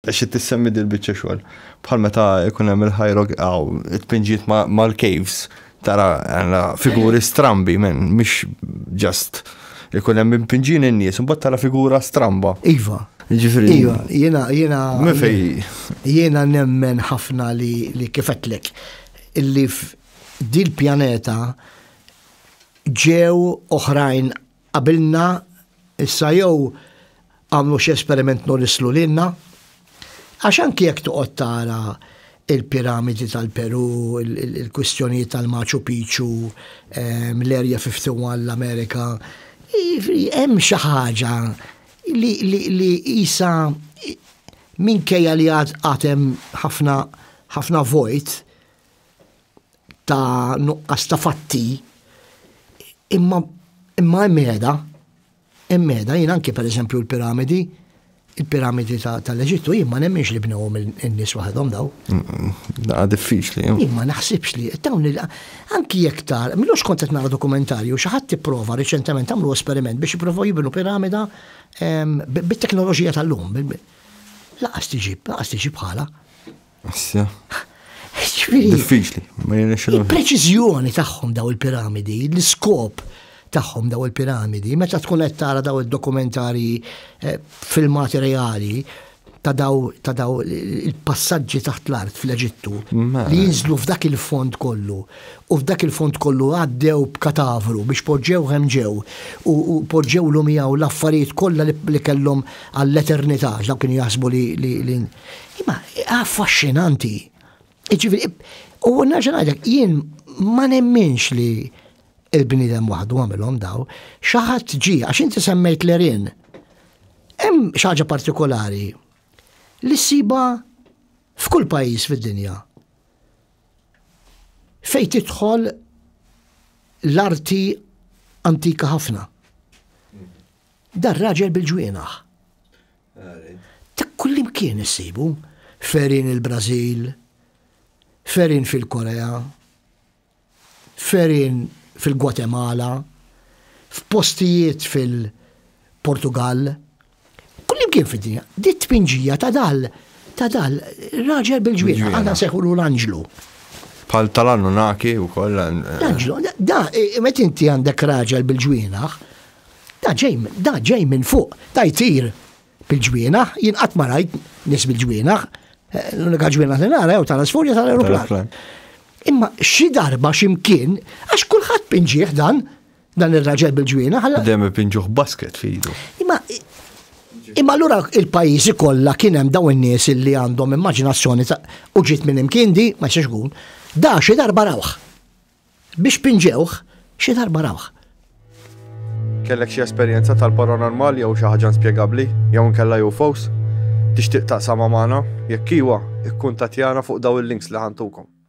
Xi tissemmi dil-biċċa xogħol? Bħal meta jkun hemm il-ħajrog għaw, it-tpinġiet mal-caves, tara figuri strambi, men, mhix ġast ikun hemm impinġin in-nies, imbagħad tara figura stramba. Iva. Ġifieri. Iva, jiena jiena. Mifej. Jiena nemmen ħafna li li kifetlek illi dil-pjaneta ġew oħrajn qabilna issa jew għamlu xi esperiment norislu lilna. Għax anki jekk toqgħod tara il-piramidi tal-Peru, il-kwistjonijiet tal-Machu Picchu, ehm, l-Area 51 l-Amerika, hemm xi ħaġa li isa minkejja li għad hemm ħafna ħafna vojt, ta' nuqqas ta' fatti, imma imma hemm qiegħda, hemm qiegħda jien anke pereżempju l-piramidi, il-piramidi tal-Eġittu jien ma nemminx li bnewhom in-nies waħedhom daw. Da diffiċli. Jien ma naħsibx li dawn il anki jekk tar, mhux kont qed nara dokumentarju xi ħadd tipprova riċentement għamlu esperiment biex jipprovaw jibnu piramida bit-teknoloġija tal-lum. Laqas tiġib, laqas tiġib bħala. Assja. Diffiċli, ma jirnexxilhom. Il-preċiżjoni tagħhom daw il-piramidi, l-iskop tagħhom daw il-piramidi, meta tkun qed tara daw id-dokumentari eh, filmati reali ta' daw ta' daw il-passaġġi taħt l-art fl-Eġittu li jinżlu f'dak il-fond kollu u f'dak il-fond kollu għaddew b'katavru biex poġġew ħemġew u poġġew l miegħu l-affarijiet kollha li kellhom għall-eternità dak kien jaħsbu li Imma affaxxinanti. Ġifieri, u nerġa' ngħidlek, jien ma nemminx li il-bniedem waħdu għamilhom daw, xi ħadd ġie għax inti semmejt l-erin. Hemm xi ħaġa partikolari li ssiba f'kull pajjiż fid-dinja. Fejn tidħol l-arti antika ħafna. Dar raġel bil-ġwienaħ. Ta' kullimkien issibu, ferin il-Brażil, ferin fil-Korea, ferin fil-Gwatemala, f'postijiet fil-Portugall, kullimkien fid-dinja. Di t-tpinġija ta' dal ta' dal raġel bil-ġwienaħ, għandna seħulu l-anġlu. Pal tal-Annunaki u koll. L-anġlu, da, met inti għandek raġel bil-ġwienaħ, Da ġej, da ġej minn fuq, da jtir bil-ġwienaħ, jien qatt ma rajt nies bil-ġwienaħ, eh, l-unika ġwienaħ li nara jew tal-asfurja tal-aeroplan. Imma xi darba x'imkien, għax kulħadd pinġieħ dan, dan ir-raġel bil-ġwienaħ. Għalla dem pinġuħ basket fidu. Imma Imma allura il-pajjiżi kollha kien hemm dawn in-nies li għandhom immaġinazzjoni ta' u ġiet minn imkien di ma jistax ikun. Da xi darba rawħ. Biex pinġewh, xi darba rawh. Kellek xi esperjenza tal-paranormali jew xi ħaġa inspjegabbli, jew inkella UFOs? Tixtieq taqsamha magħna? Jekk iwa, ikkuntattjana fuq dawn il-links li ħa ntukom.